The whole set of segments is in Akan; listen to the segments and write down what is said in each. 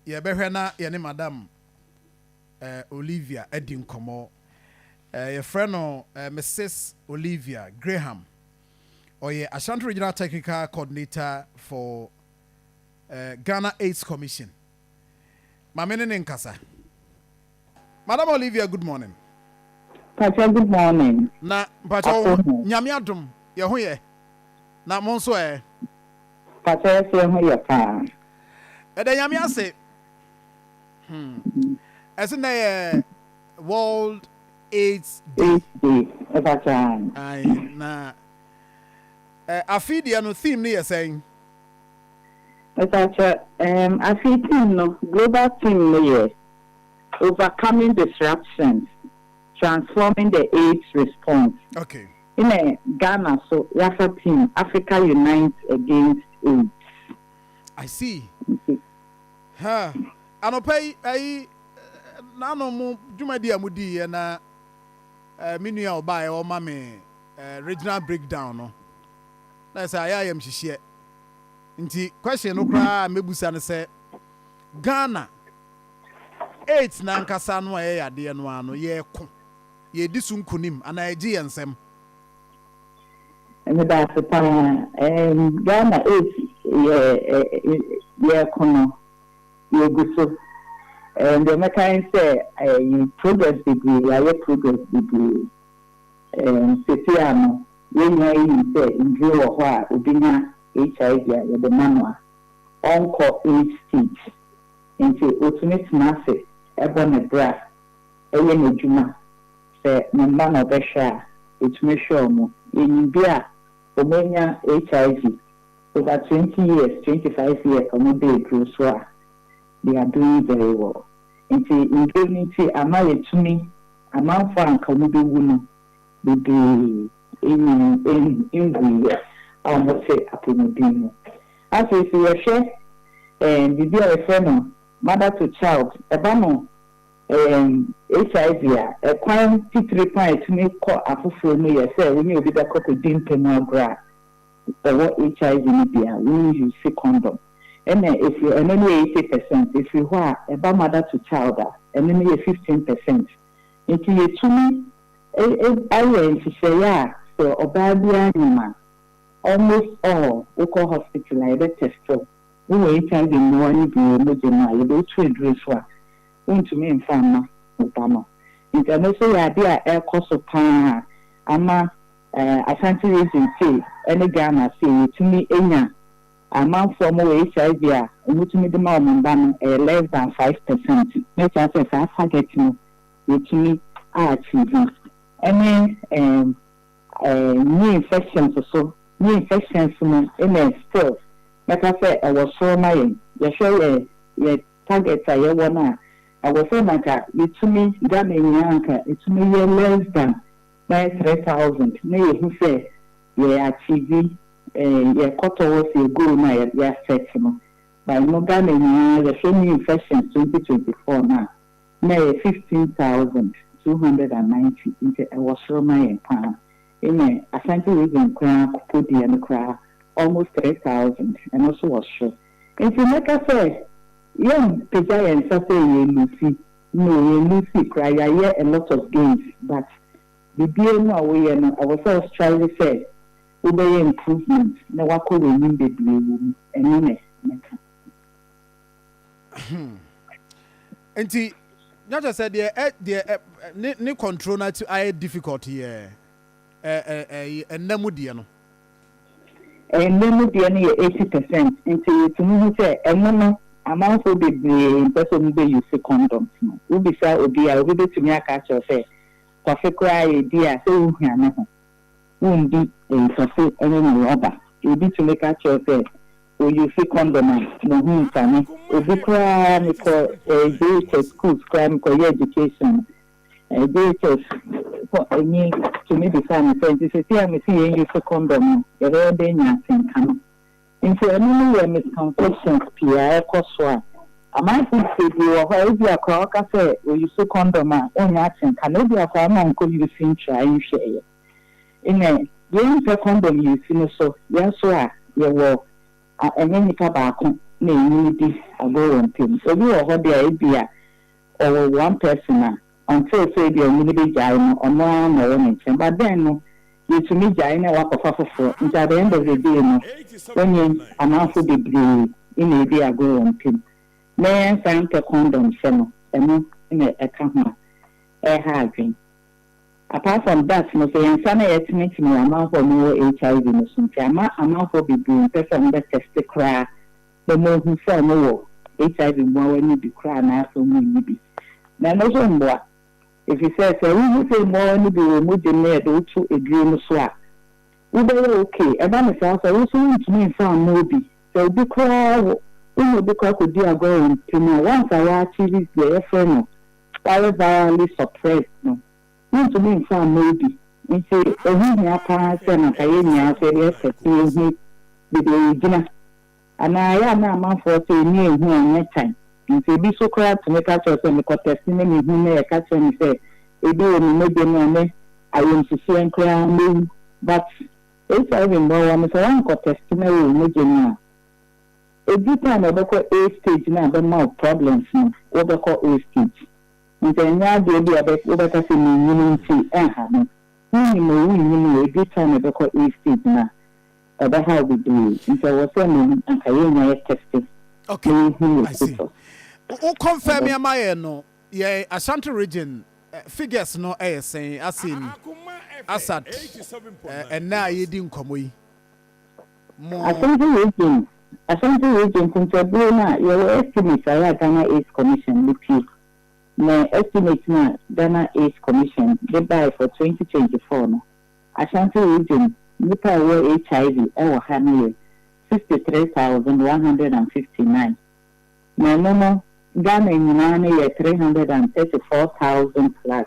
Yɛbɛhwɛ na yɛne Madam Olivia adi nkɔmmɔ. Yɛfrɛ no Misis Olivia Graham. Ɔyɛ Ashanti Regional Technical Coordinator for Ghana AIDS Commission. Ma me ne no nkasa. Madam Olivia good morning. Mpakyɛ good morning. Na mpakyɛ wo ho Nyame adom yɛ ho yɛ na mo nso ɛ? Mpakyɛ yɛ so yɛ ho yɛ paa. Yɛda Nyame ase hmm ɛse nɛ yɛ world aids day. Aids day ɛfa saa. Ae na ɛ afe deɛ no theme no yɛ sɛn? Mpakyɛ ɛɛm afe theme no global theme no yɛ. Overcoming Disruptions, Transforming the AIDS Response nna Ghana so yɛafa theme Africa Unites Against AIDS. I see. Ha, anɔpa yi, ayi, n'ano mo dwumadi a mo di yɛ na eh, me nua ɔbaa yɛ ɔma me eh, regional breakdown no. Na ɛsɛ ayɛ ayɛm hyehyeɛ. Nti question no koraa a mɛbusa no sɛ Ghana AIDS no ankasa no a ɛyɛ yadeɛ no ara no, yɛko, yɛdi so nkunim anaa ɛgye yɛn nsam? Medase paa ehm Ghana AIDS yɛ yɛko no yɛgu so ehm deɛ mɛka ne sɛ ehm progress bebree yɛayɛ progress bebree ehm sɛsei a no yɛn nyinaa yɛnim sɛ nnuro wɔ hɔ a obi nya HIV a yɛde ma no a ɔnkɔ AIDS stage. Enti otumi tena ase bɔ ne bra yɛ n'adwuma. Sɛ ne mma na ɔbɛhwɛ a, otumi hwɛ wɔn. Yenim bi a wɔanya HIV over twenty years, twenty five years a wɔda aduro so a, they are doing very well. Enti nnuro no nti ama yɛatumi, amanfoɔ a anka wɔbɛwu no bebree nyin, nwuiɛ a wɔte apɔmuden mu. Afei sɛ yɛhwɛ ɛɛm biribi a yɛfrɛ no mother to child, ɛba no ɛɛm HIV a, ɛkwan titire paa a ɛtumi kɔ afoforɔ mu yɛ sɛ wo ne obi bɛkɔ kɔdi ntamu agorɔ a ɔwɔ HIV no bi a, wo use condom. Ɛna ɛfiri ɛno no yɛ eighty percent, ɛfiri hɔ a ɛba mother to child a, ɛno no yɛ fifteen percent. Nti yɛtumi ayɛ nhyehyɛeɛ a sɛ ɔbaa biara nim a, Almost all wokɔ hospital a yɛbɛ test wo, wowɔ HIV mmoa no bi wɔ mogya mu a yɛde wo to aduro so a wontumi mfa mma wo ba no. Nti ɛno nso yɛ adeɛ a ɛrekɔ so paa a ama Ashanti region sei ɛne Ghana sei yɛtumi nya amanfoɔ a wɔwɔ HIV a wɔtumi de ma wɔn mma no ɛyɛ less than five percent. Mɛkyerɛ wo sɛ saa target no yɛtumi a achieve no ɛne ɛɛm. Knee infections so, knee infections no na still mɛka sɛ ɛwɔ soro ma yɛn. Yɛhwɛ yɛn yɛn target a yɛwɔ no a, ɛwɔ sɛ na nka yɛtumi Ghana nyinaa nka ɛtumi yɛ less than bɛyɛ three thousand na yɛhu sɛ yɛ achieve yɛ kɔ towards yɛ goal no a yɛ yɛ set no. But no Ghana nyinaa yɛhwɛ knee infections twenty twenty four no a, Na ɛyɛ fifteen thousand, two hundred and ninety nti ɛwɔ soro ma yɛn paa. Even Asante region koraa Akupo deɛ no koraa almost three thousand ɛno nso wɔ soro. Nti mɛka sɛ yɛmpagya yɛn nsa sɛ yɛ loosey, no yɛn loosey koraa yɛayɛ a lot of gains but biribiara mu a woyɛ no ɛwɔ sɛ wo strive sɛ wobɛyɛ improvement na woakɔ w'anim bebree wɔ mu. Ɛno na mɛka. Hmm. Nti, na kyerɛ sɛ deɛ ɛ deɛ ɛ ne ne control na ayɛ difficult yɛ ɛ ɛ ɛ ɛnna mu deɛ no. Ɛnna mu deɛ no yɛ eighty percent nti yɛtumi hu sɛ ɛno no amanfoɔ bebree mpɛ sɛ wɔn bɛ use condoms no. Wobisa obi a obi bɛtumi aka akyerɛw sɛ kɔfe koraa a yɛdi a sɛ wohia ne ho. Womdi nsase ne ne rɔba. Obi tumi ka kyerɛ sɛ oyuusi kɔndɔm a, muhu nsane. Obi koraa mekɔ eh, JHS schools koraa mekɔyɛ education eh, JHS fo ni tumi bisaa me sɛ, nti seesei a mese yɛn yuusi kɔndɔm no, yɛbɛyɛ dɛn anya asɛnka no? Nti ɛno no yɛ misconceptions pii a ɛkɔ so a amanfoɔ tie bi wɔ hɔ a ebia koraa ɔka sɛ ɔyusu kɔndɔm a ɔnnya atenka no ebia koraa na ɔnkɔ yusu ntra nhwɛeɛ. Nnɛ yei mpɛ kɔndɔm yusu no so yɛn nso a yɛwɔ a ɛnyɛ nipa baako na ɛnyini di agorɔ wɔ ntam. Obi wɔ hɔ deɛ a ebia ɔwɔ one person a ɔntee sɛ ebia onyin begyae no, ɔno ara na ɔwɔ ne nkyɛn. But then no, yetumi gyae na wɔakɔfa foforo. Nti at the end of the day no, onyin amamfo bebree na edi agorɔ wɔ ntam. Na yɛnsan mpɛ kɔndɔm hyɛ no, ɛno na ɛka ho a, ɛreha adwene. Apart from that no, sɛ yɛn nsa na yɛtenetene wɔ amanfoɔ a wɔwɔ HIV no so nti, ama amanfoɔ bebree mpɛ sɛ wɔbɛtɛste koraa. Sɛ mohu sɛ mowɔ HIV mmoawa no bi koraa anaasɛ monni bi no, ɛno nso mmoa, efisɛ sɛ wuhu sɛ mmoawa no bi wɔ mogya mu a yɛde wo to aduru no so a, wobɛyɛ ok. Ɛba no saa sɛ wo nso wuntumi mfa mma obi. Sɛ obi koraa wo ne obi kɔ akɔdi agorɔ wɔ ntam a, once a woachieve deɛ yɛfrɛ no Wireless Virally Suppressed no, Wontumi mfa mmɔ obi. Enti ɛho hia paa sɛ na anka yɛn nyinaa nso yɛde yɛn kɛse hu baabi a yɛgyina. Anaa ɛyɛ a na amanfoɔ sɛ ani a ɛhu a ɛnyɛ tan. Enti ebi nso koraa tumi ka kyerɛ wo sɛ, mekɔ tɛsi ne mehu na yɛka kyerɛ me sɛ ebi wɔ me mogya mu a ne ayamhyehyeɛm koraa mɛwu. But HIV mmoawa no sɛ woankɔ tɛsi na ɛwɔ wo mogya mu a, ɛduru time a ɛbɛkɔ A stage na abɛma wo problems no, wobɛkɔ A stage. Enti ɛnyɛ adeɛ bi a wobɛka sɛ mennyini nti ɛnha me. Wonim o, wonnim o, ɛduru time a ɛbɛkɔ A stage no a, ɛbɛha wo bebree. Nti ɛwɔ sɛ mmom anka yɛnya yɛ teste na yɛhu yɛ status. Wo confirmie ma yɛn no, yɛn Ashanti region figures no yɛ sɛn, as in, as at ɛnnɛ a yɛredi nkɔmmɔ yi? mo. Asante Region Asante Region Kontabuo no a yɛwɔ Estimates a yɛ a Ghana AIDS Commission de pue ne Estimate no a Ghana AIDS Commission de bae for twenty twenty four no, Ashanti Region nnipa a wɔwɔ HIV wɔ ha no yɛ sixty three thousand one hundred and fifty nine na ɛno no Ghana nyinaa no yɛ three hundred and thirty four thousand plus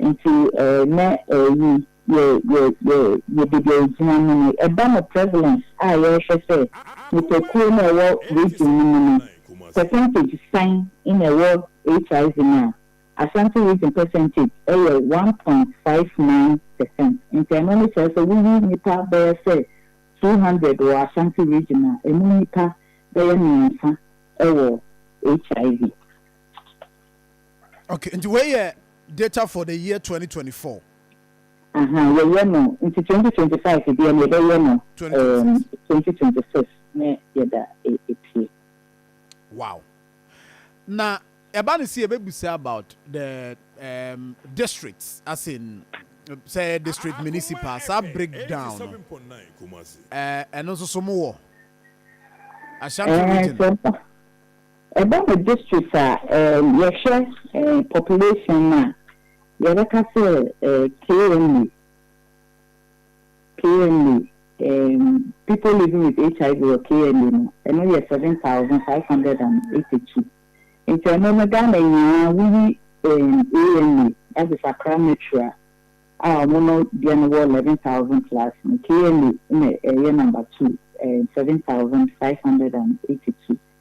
Nti eh nɛ eh yi yɛ yɛ yɛ yɛ baabi a yɛgyina mu no, ɛba no prevalence a yɛrehwɛ sɛ nnipakuo no a ɛwɔ region no mu no percentage sɛn na ɛwɔ HIV mu a, Asante region percentage ɛyɛ one point five nine percent. Nti ɛno no kyerɛ sɛ woyi nnipa bɛyɛ sɛ two hundred wɔ Asante region a, ɛmu nnipa bɛyɛ mmiɛnsa ɛwɔ HIV. Okay, nti wei yɛ data for the year twenty twenty four. Aha, yɛyɛ no nti twenty twenty five deɛ na yɛbɛyɛ no ɛɛm twenty twenty six ne yɛda epie. Wow, na ɛba no sɛ yɛbɛbisa about the ɛɛm districts as in sɛ ɛyɛ district municipal saa break down no ɛɛ ɛno nso so mo wɔ Ashanti region. Ɛɛ sɛ. Ɛba no district a yɛhwɛ population no a, yɛbɛka sɛ KMA, KMA, people living with HIV wɔ KMA no, ɛno yɛ 7,582. Nti ɛno no Ghana nyinaa woyi AMA, that is Accra Metro a, a wɔn no deɛ no wɔ 11,000 plus no, KMA na ɛyɛ number two, 7,582.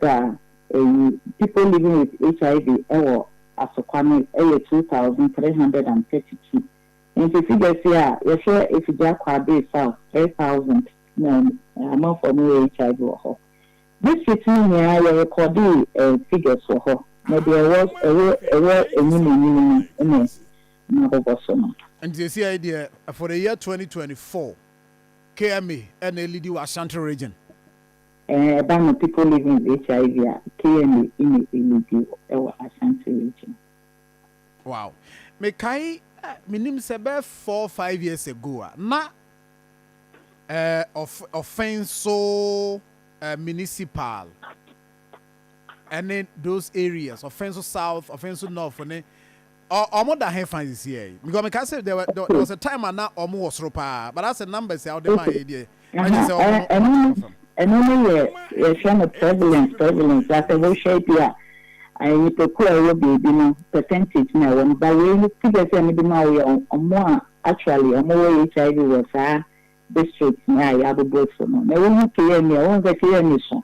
da eyi People Living with HIV wɔ Asokwa no yɛ two thousand three hundred and thirty two. Enti figures yi a yɛhwɛ efi Gya Kwabere South three thousand na amanfoɔ a wɔwɔ HIV wɔ hɔ. District no nyinaa yɛ recordee figures wɔ hɔ na deɛ ɛwɔ ɛwɔ ɛwɔ anim anim no na mabobɔ so no. Nti seesei yi deɛ for the year twenty twenty four KMA na ɛlidi wɔ Ashanti region. Eh ɛba no people living with HIV a kna ina elidi hɔ ɛwɔ Ashanti region. Wow mekae eh menim sɛ bɛyɛ four five years ago a na eh ɔf ɔfɛn so eh municipal ɛne those areas ɔfɛn so south ɔfɛn so north ne Ɔ ɔmo da he fa sisiɛ yi? Because meka se there were there was a time a na ɔmo wɔ soro paa but asɛ numbers a wode maaeɛ yi deɛ ɛnyɛ sɛ ɔmo no ɔmo ate fam. Ɛno no yɛ yɛfrɛ no prevalence prevalence asɛ wohwɛ bi a nnipakuo a ɛwɔ baabi no percentage na ɛwɔ no but wei no figures a mede maa wo yɛ ɔmo a actually ɔmo wɔ HIV wɔ saa districts no a yɛabobɔ so no na wohu KMA a wohu sɛ KMA so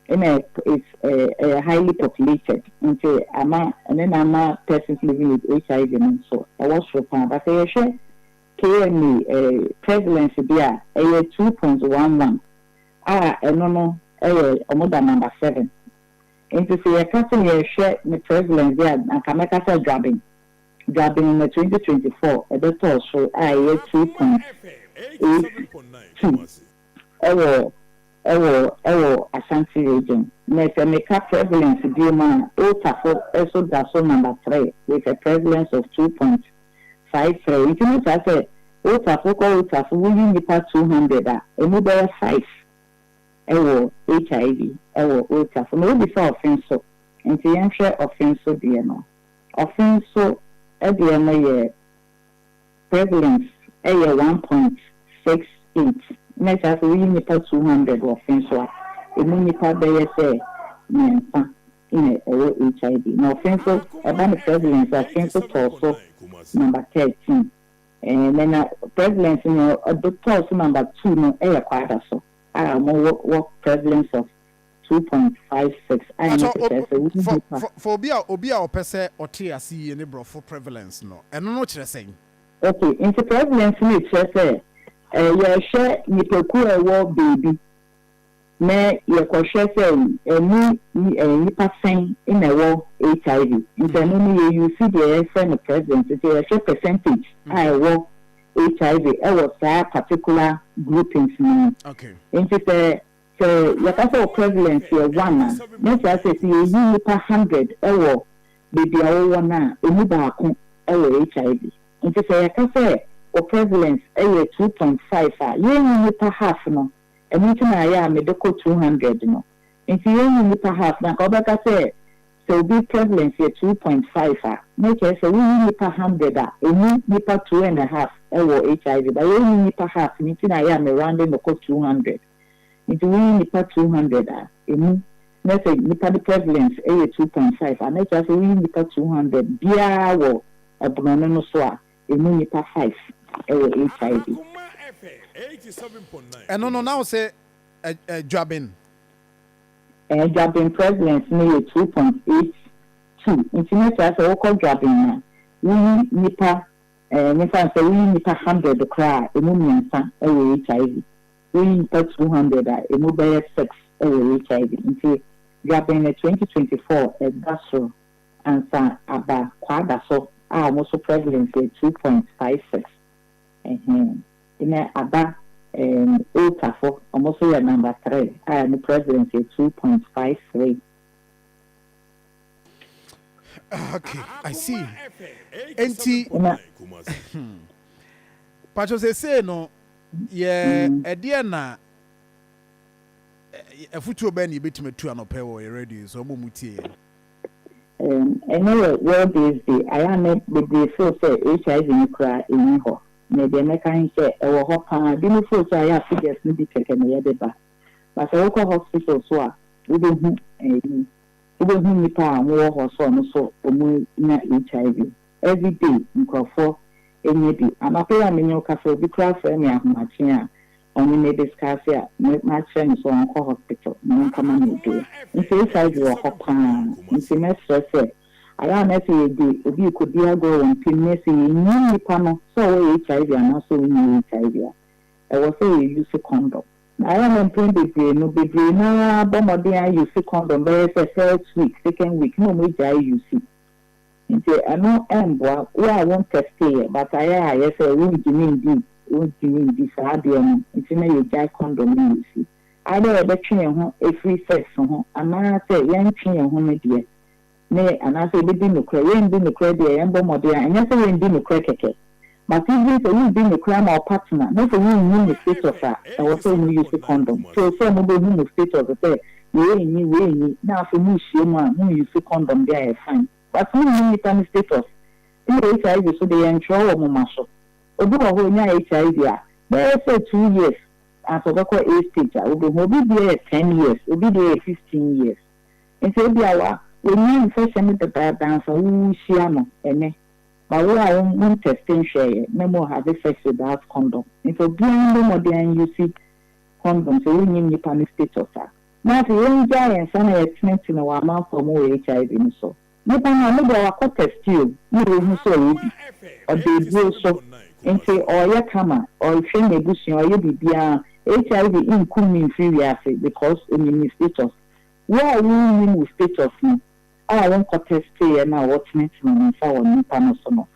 Ɛna it's ɛyɛ highly populated nti ama ɛno na ama persons living with HIV no nso ɛwɔ soro paa but sɛ yɛhwɛ KMA prevalence deɛ a ɛyɛ two point one one a ɛno no ɛyɛ ɔmo da number seven nti sɛ yɛka sɛ yɛrehwɛ ne prevalence deɛ a anka mɛka sɛ dwaben dwaben na twenty twenty four ɛbɛtɔɔ soro a ɛyɛ two point eight two. Ɛwɔ ɛwɔ ɛwɔ Ashanti region. Nɛ sɛ meka prevalence biom a, Otafo so da so number three with a prevalence of two point five three. Nti ne saa sɛ Otafo kɔ Otafo wo yi nipa two hundred a, ɛmu bɛyɛ five ɛwɔ HIV ɛwɔ Otafo. Na wobisa Ɔfenso, nti yɛnhwɛ Ɔfenso deɛ no. Ɔfenso deɛ no yɛ. Prevalence yɛ one point six eight, na ɛkyerɛ sɛ woyi nnipa two hundred wɔ fe so a, emu nnipa bɛyɛ sɛ mmiɛnsa na ɛwɔ HIV. Na ɔfe nso, ɛba no prevalence a, ɔfe nso tɔɔ so number thirteen. Ɛnnɛ na prevalence nea ɔtɔɔ so number two no yɛ Kwadaso a wɔwɔ prevalence of. two point five six a ɛno Pakyɛ, kyerɛ sɛ wo fa, nnipa. fa, fa obi a, obi a ɔpɛ sɛ ɔte ase yie ne Borɔfo prevalence no, ɛno no kyerɛ sɛn? Ok, nti prevalence no kyerɛ sɛ, eh, yɛhwɛ nnipakuo a ɛwɔ baabi na yɛkɔhwɛ sɛ ɛmu nni, eh, nnipa sɛn na ɛwɔ HIV. Nti ɛno no yɛ use deɛ yɛfrɛ no prevalence, nti yɛhwɛ percentage a ɛwɔ HIV ɛwɔ saa particular groupings no mu. Ok. Nti sɛ Sɛ yɛka sɛ wo prevalence yɛ one a, na ɛkyerɛ sɛ sɛ yɛyi nnipa hundred wɔ baabi a wowɔ no a, ɛmu baako wɔ HIV. Nti sɛ yɛka sɛ wo prevalence yɛ two point five a, yɛnyi nnipa half no, ɛno nti na ayɛ a mede kɔ two hundred no. Nti yɛnyi nnipa half no a, anka wobɛka sɛ sɛ obi prevalence yɛ two point five a, na ɛkyerɛ sɛ woyi nnipa hundred a, ɛmu nnipa two and a half wɔ HIV. But yɛnyi nnipa half no nti na ayɛ a me rounde no kɔ two hundred. Ntsi wo nye nyimpa two hundred a, emu, na sɛ nyimpa ne prevalence yɛ two point five a, na kyerɛ ase wo nye nyimpa two hundred biara wɔ borɔno no so a, emu nyimpa five wɔ HIV. Ɛno no na wo se Adwaben? Ɛɛ, Dwaben prevalence no yɛ two point eight two, ntsi na kyerɛ ase wo kɔ Dwaben a, wo nye nyimpa, ɛɛ, nyimfa no sɛ wo nye nyimpa hundred koraa a, emu miɛnsa wɔ HIV. Wo nyimpa two hundred a emu bɛyɛ six wɔ HIV ntsi dwabɛn na twenty twenty four da sor ansa aba kwaadaso a ɔmo so prevalence yɛ two point five six ɛhɛn ena aba ɛɛm oltafo ɔmo so yɛ number three a emu prevalence yɛ two point five three. Okay, I see. Enti, patro sese no, yɛ ɛdeɛ na afutuo bɛn na yɛbɛtumi atu anɔpɛ wɔ yɛ radio so ɔmo mu tie yɛn. Ɛnɛ yɛ World AIDS Day, ayɛ a nɛ bebree feel sɛ HIV no koraa ɛnni hɔ. Nɛ deɛ mɛka he sɛ ɛwɔ hɔ paa, binom feel sɛ ayɛ a figures no bi kɛkɛ na yɛde ba, but sɛ wokɔ hospital so a wobɛhu ɛyi. Wobehu nnipa a wɔwɔ hɔ sɛ ɔno so wɔnya HIV. Everyday nkurɔfoɔ nya bi. Anɔpa yi a menye wo kasa obi koraa frɛ me ahomakye a ɔnye me discuss a me makyerɛ no sɛ ɔnkɔ hospital na ɔnkɔma no aduro. Nti HIV wɔ hɔ paa. Nti mɛsrɛ sɛ ayɛ a na sɛ yɛde obi rekɔdi agorɔ wɔ mpem ne sɛ yɛnnim nnipa no sɛ ɔwɔ HIV anaasɛ ɔnni HIV a ɛwɔ sɛ yɛ use condom. Na ayɛ no mpɛn bebree no, bebree no ara bɔ mmɔden ara use kɔndɔm bɛyɛ sɛ first week, second week na wɔagyae use. Nti ɛno mboa. Wo a wo ntɛsteeɛ but ayɛ a ayɛ sɛ wongyimi ndi, wongyimi ndi saa adeɛ no nti na yɛgyae kɔndɔm ne use. Either yɛbɛtwe yɛn ho afiri sex ho anaa sɛ yɛntwe yɛn ho no deɛ, ne anaasɛ yɛbɛdi nokorɛ, yɛrendi nokorɛ deɛ yɛbɔ mmɔden a, ɛnyɛ sɛ yɛrendi nokorɛ kɛkɛ. But even sɛ woredi nokorɛ ama wo partner na sɛ wonyi mo status a, ɛwɔ sɛ mo use condom till sɛ mobɛhu mo status sɛ wei renyi, wei renyi na afei morehyia mu a mo use condom deɛ a ɛyɛ fine. But monhu nnipa no status. Ɛna HIV so deɛ yɛntwerɛ wɔ moma so. Obi wɔ hɔ ɔnya HIV a, bɛyɛ sɛ two years ansa ɔbɛkɔ AIDS stage a wobɛhu. Obi deɛ yɛ ten years, obi deɛ yɛ fifteen years. Enti ebia wa, wannya mfɛhyɛ no dedaada ansa wo wuhyia no ɛnɛ. Ba wo a wo montɛste nhwɛɛɛ na mmom have sex without condom. Nfa obiara mmɔ mmɔden anyusi condom sɛ wonnim nnipa no status a. Na afei yɛngyaa yɛn nsa na yɛtenetene wɔ amanfoɔ a ɔmo wɔ HIV no so. Nnipa no ɔno deɛ wakɔ tɛste o na wahu sɛ ɔwɔ bi. Ɔda aduro so. Enti ɔɔyɛ kama, ɔɔhwɛ n'abusua, ɔɔyɛ biribiara. HIV nnkum no mfiri wiase because onim ne status. Wo a wonnim wo status no, a wonkɔtɛsteeɛ no a wotenetene wo nsa wɔ nnipa no so no,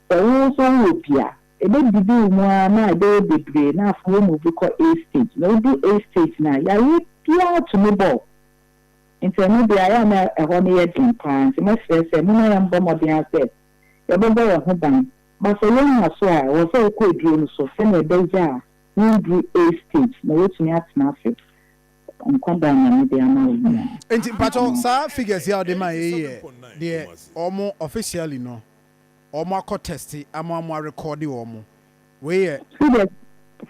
sɛ wo nso wowɔ bi a, ɛbɛdidi wo mu ara ma ɛbɛyɛ bebree na afei womuvu kɔ A stage na wodu A stage no a, yareɛ biara tumi bɔ wo. Nti ɛno deɛ ayɛ a na ɛhɔ no yɛ den pa ara nti mɛsrɛ sɛ momma yɛmbɔ mmɔden ara sɛ yɛbɛbɔ yɛn ho ban. Ba sɛ woannya so a, ɛwɔ sɛ wokɔ aduro no so sɛdeɛ ɛbɛyɛ a wonduru A stage na woatumi atena ase Nkwa bɛn na mede ama wo nua? Enti mpakyɛw saa figures yi a ɔde mae yi yɛ deɛ wɔn officially no wɔn akɔ test ama wɔn arekɔɔde wɔn. Wei yɛ. Figures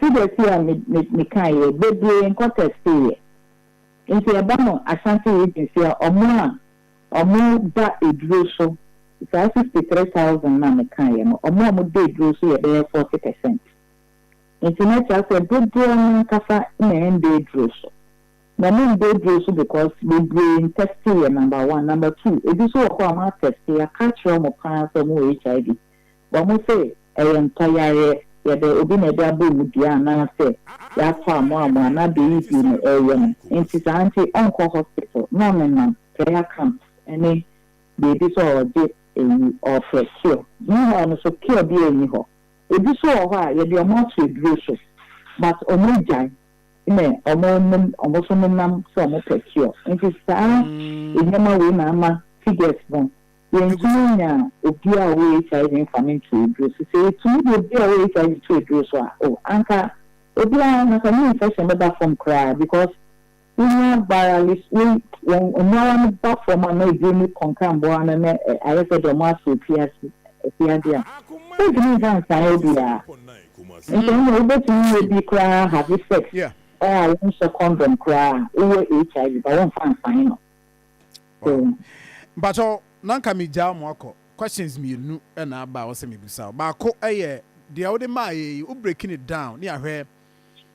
figures yi a me me mekaeɛ yi bebree nkɔ testeeɛ. Nti ɛba no Ashanti region sei a wɔn a wɔn da aduro so saa sixty three thousand no a mekaeɛ no wɔn a wɔn da aduro so yɛ bɛyɛ forty percent. Enti na ɛkyerɛ sɛ dodoɔ no ankasa na ɛnda aduro so. Na ɛmu nda aduro so because bebree ntɛste yɛ number one. Number two, ebi nso wɔ hɔ a wɔatɛste, yɛaka akyerɛ wɔn pa ara sɛ wɔwɔ HIV. But wɔn se ɛyɛ ntɔyareɛ, yɛde obi na ɛde abɔ wɔn dua anaa sɛ yɛatɔ amoamoa anaa deɛ ɛyɛ bio na ɛreyɛ no. Enti saa nti ɔnkɔ hospital na ɔnenam prayer camps ne baabi sɛ ɔregye ayi, ɔrefrɛ cure. Meanwhile nso cure biara nni hɔ. Ebi so wɔ hɔ a yɛde wɔn ato aduro so but wɔn agyae ne wɔn nom wɔn so nenam sɛ wɔn pɛ cure nti saa nneɛma wei na ama figures no yɛntumi nya obi a ɔwɔ HIV nfa no nto aduro so sɛ yɛtumi de obi a ɔwɔ HIV to aduro so a oh anka obiara anka ne infection bɛba fam koraa because Wonya bara ne wei wɔn mmoawa no ba fam a na eduro ne kɔnkra mmoawa no na ayɛ sɛ deɛ wɔasɔ afiase afiade a wontumi mfa nsan obiara nso ɛnna wobɛtumi yɛ bi koraa have sex a wonhyɛ kɔndɔm koraa a wowɔ HIV ba womfa nsan no so. Mpakyɛw na nka megyaa mo akɔ questions mmienu na aba a ɔsɛ mebusa wo baako yɛ deɛ wode maaeɛ yi wo break ne down ne ahwɛ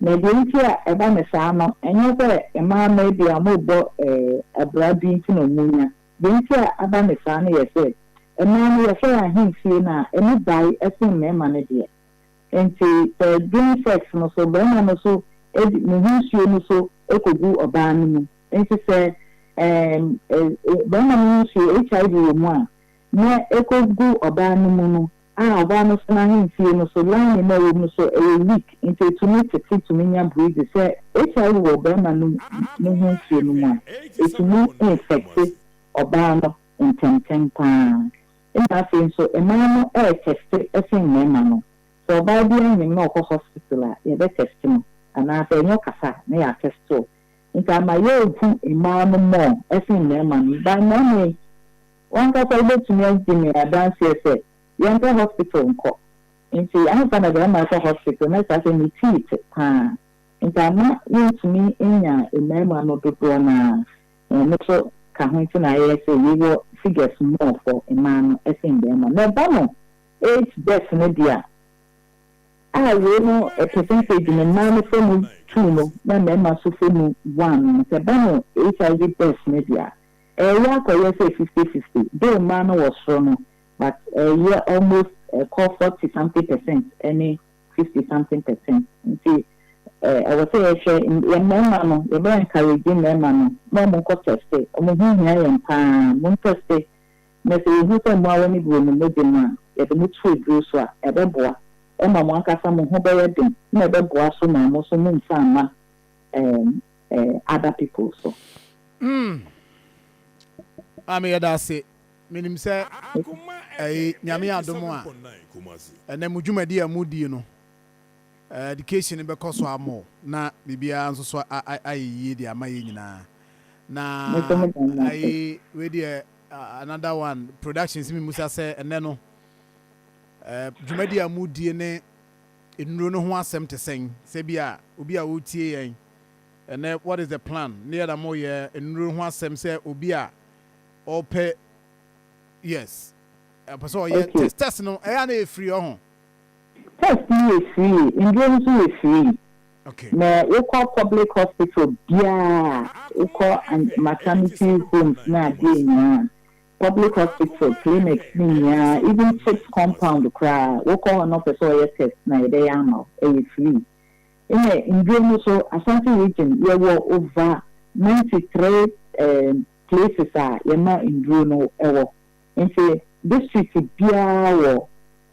Na deɛ nti a ɛba no saa no, ɛnyɛ sɛ mmaa no ebia wɔrebɔ abira bi nti na wɔnya. Deɛ nti a aba no saa no yɛ sɛ, mmaa no wɔhwɛ wɔn ahemfie no a, ɛmu bae sen mmarima no deɛ. Enti sɛ during sex no so, barima no so de ne ho nsuo no so kɔgu ɔbaa no mu. Enti sɛ barima no ho nsuo, HIV wɔ mu a, nea ɛkɔgu ɔbaa no mu no, A Ɔbaa no sena ahemfie no so, lining no a ɛwom no so ɛyɛ weak nti ɛtumi tete tumi nya breezy sɛ HIV wɔ ɔbarima no mu ho nsuo no mu a, ɛtumi infɛkte ɔbaa no ntɛmntɛm paa ɛna afei nso mmaa no ɛretɛste sen mmarima no, sɛ ɔbaa bi anyem na ɔkɔ hospital a yɛbɛtɛste no anaa sɛ ɛnyɛ ɔkasa a na yɛatɛste o nti ama yɛrehu mmaa no more sen mmarima no by mmarima yi. W'ankasa wobɛtumi adi me adanseɛ sɛ yɛmpɛ hospital nkɔ. Nti ansa na bɛrima rekɔ hospital na kyerɛ sɛ ne teeth paa. Nti amma wontumi nnya mmarima no dodoɔ no ara. Ɛɛ no nso ka ho nti na ayɛ sɛ yɛwɔ figures more for mmaa no sen mmarima no. Na ɛba no eighth birth no deɛ a, a wei no percentage no mmaa no fa mu two no na mmarima nso fa mu one no, sɛ ɛba no HIV birth no deɛ a, Ɛreyɛ akɔyɛ sɛ fifty fifty though mmaa no wɔ soro no but ɛreyɛ almost ɛkɔ forty something percent ne fifty something percent nti ɛwɔ sɛ yɛhwɛ yɛn mmarima no yɛbɛ encourage mmarima no ma wɔn nkɔ tɛste wɔn ho hia yɛn paa mo tɛste na sɛ yɛhu sɛ mmoawa no bi wɔ mo mogya mu a yɛde mo to aduro so a ɛbɛboa ɛma mo ankasa mo ho bɛyɛ den na ɛbɛboa so ma mo nso mo mfa mma ɛɛ eh other people so. Mm Maame yɛda ase menim sɛ eh Nyame adom a ɛnɛ mo dwumadi a mo di no eh education bɛkɔ so ama o na biribiara nso so ayɛ yie de ama yɛn nyinaa na eh wei deɛ another one production si mi musa sɛ ɛnɛ no eh dwumadi a mo die ne nnuro no ho asɛm te sɛn sɛ bi a obi a wotie yɛn ɛnɛ what is the plan ne yɛda mo yɛ nnuro ho asɛm sɛ obi a ɔpɛ yes ɛpɛ sɛ ɔyɛ okay. test test no ɛyɛ a na yɛ free ɔho test no yɛ free nnuro no nso yɛ free okay. na wokɔ public hospital biara wokɔ maternity homes no adeɛ nyinaa public hospital clinics ne nyinaa even chips compound koraa wokɔ hɔ na ɔpɛ sɛ ɔyɛ test na yɛbɛyɛ ama wo ɛyɛ free Nna ndur no so Asante region yɛwɔ over ninety three erm places a yɛma ndur no wɔ ntsi district biara wɔ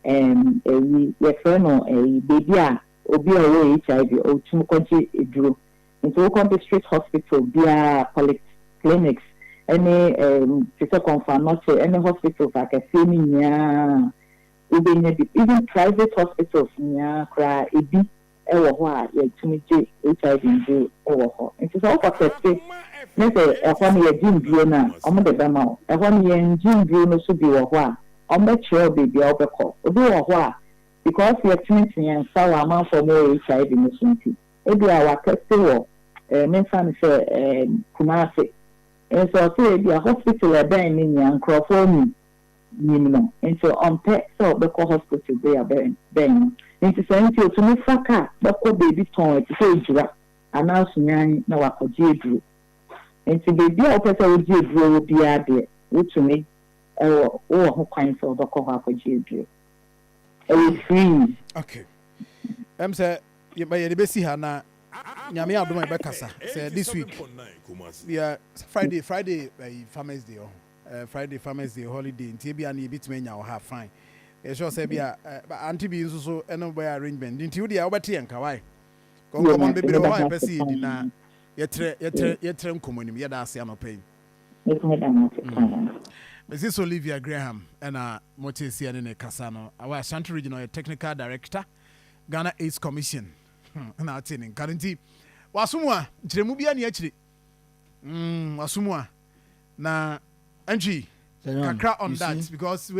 erm eyi yɛfrɛ no eyi beebi a obi a ɔwɔ HIV otum kɔgye edur ntsi wokɔ district hospital biara polyc clinics ne erm te sɛ Komfo Anokye ne hospitals akɛseɛ no nyinaa Wobenya bi, even private hospitals nyinaa koraa ebi wɔ hɔ a yɛtumi gye HIV nzuro wɔ hɔ. Nti sɛ wokɔ kɛse ne sɛ ɛhɔ no yɛgye nduro no a, wɔde bɛma wo. Ɛhɔ no yɛngye nduro no so bi wɔ hɔ a, wɔbɛkyerɛ wo baabi a wobɛkɔ. Obi wɔ hɔ a, because yɛtenetene yɛn nsa wɔ amanfoɔ a wɔwɔ HIV no so nti, ebia watɛste wɔ eh, memfa no sɛ eh, Kumase. Nso ɔse ebia hospital a ɛbɛn no nyinaa nkorɔfoɔ nnim. nyim no ntsi ɔmmpɛ sɛ ɔbɛkɔ hospital bea bɛn no ntsi saa ntsi otumi fa kaar bɛkɔ beebi tɔnn tse sɛ Ejura anaa Sunyani na ɔakɔgye eduro ntsi beebi a wopɛ sɛ wogye eduro wɔ biara deɛ wotumi wɔ wowɔ ho kwan sɛ wɔbɛkɔ hɔ akɔgye eduro ɛyɛ free. Ok ɛm sɛ yɛde bɛsi ha na nyame adom a yɛbɛkasa sɛ this week bia Friday Friday Farmers Day ɔho Eh, Friday farmers day holiday nti ebia no yɛbɛtumi anya wɔ ha, fine. Yɛ sure sɛ ebia eh, ante bi nso so ɛne wobɛyɛ arrangement de nti wodeɛ wobɛte yɛn ka wae. Nkɔmmɔ no bebree wɔ hɔ a yɛpɛ sɛ yɛdi na yɛtrɛ yɛtrɛ yɛtrɛ nkɔmmɔ anim. Yɛda ase anɔpa yi. Mrs. Olivia Graham ɛna mote seɛ ne ne kasa no awɔ Ashanti region ɔyɛ technical director Ghana AIDS Commission hmm, na ate ne nka no nti waso mu a nkyerɛmu bia ne akyire mm ɔsom a na ɛntwi kakra on that because wei.